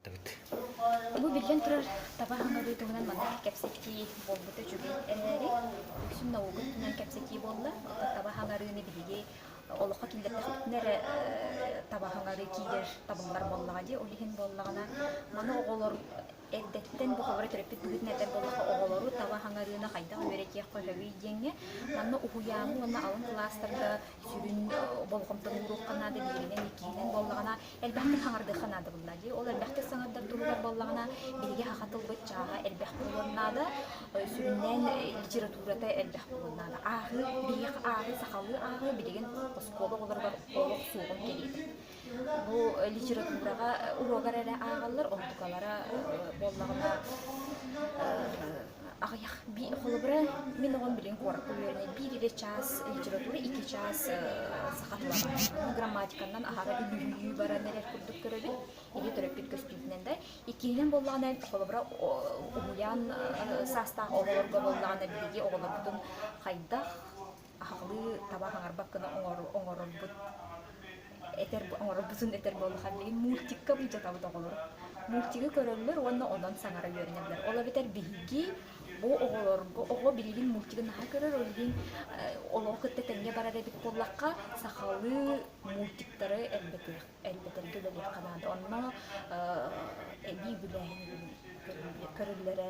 Бу биллэн турар таба хаҥырыы туһунан маннык кэпсэтии буолбута үчүгэй эрээри, үксүн наука өттүнэн кэпсэтии буолла. Таба хаҥарыыны биһиги олоххо киллэрдэхпитинэ эрэ таба хаҥарыы киирэр табыллар буоллаҕа дии. Ол иһин буоллаҕына, маны оҕолор эрдэттэн букалара төрөппүт быһыытын этэр буоллаха, оҕолору таба хаҥарыыны хайдах үөрэтиэххэ сөбүй диэҥҥэ манна уһуйааны уонна алын кылаастарга сүрүн болҕомтону ууруохха наада. Биһигинэн иккиһинэн буоллаҕына, Элбэхник саҥардыахха наадабыллаа дии. Ол элбэхтик саҥардар туһугар буоллаҕына, биһиги саха тылбыт чааһа элбэх буолуон наада. Сүрүннээн литературата элбэх буолуон наада. Ааҕыы, биһиэхэ ааҕыы, сахалыы ааҕыы билигин оскуола оҕолоругар олох суоҕун кэриэтэ. Бу литератураҕа уруогар эрэ ааҕаллар, онтукалара буоллаҕына Аҕыйах би холобура мин оҕом билигин куоракка үөрэнэр биир иллэ чаас литература икки чаас саха тылынан грамматиканан аһара үлүһүйүү баран эрэр курдук көрөбүн или төрөппүт көстүүтүнэн да иккиһинэн буоллаҕына холобура уһуйаан саастаах оҕолорго буоллаҕына биһиги оҕолорбутун хайдах аһылыы таба хаҥарбак гына оҥорорбут этэр оҥорорбутун этэр буоллахха билигин мультикка былдьатабыт оҕолору мультигы көрөллөр уонна онон саҥара үөрэнэллэр ол эбэтэр биһиги бу оҕолорго оҕо билигин мультигы наһаа көрөр ол иһин олоҕу кытта тэҥҥэ барар эбит буоллахха сахалыы мультиктары элбэтэргэ үлэлиэххэ наада онно эбии үбүлээһин көрүллэрэ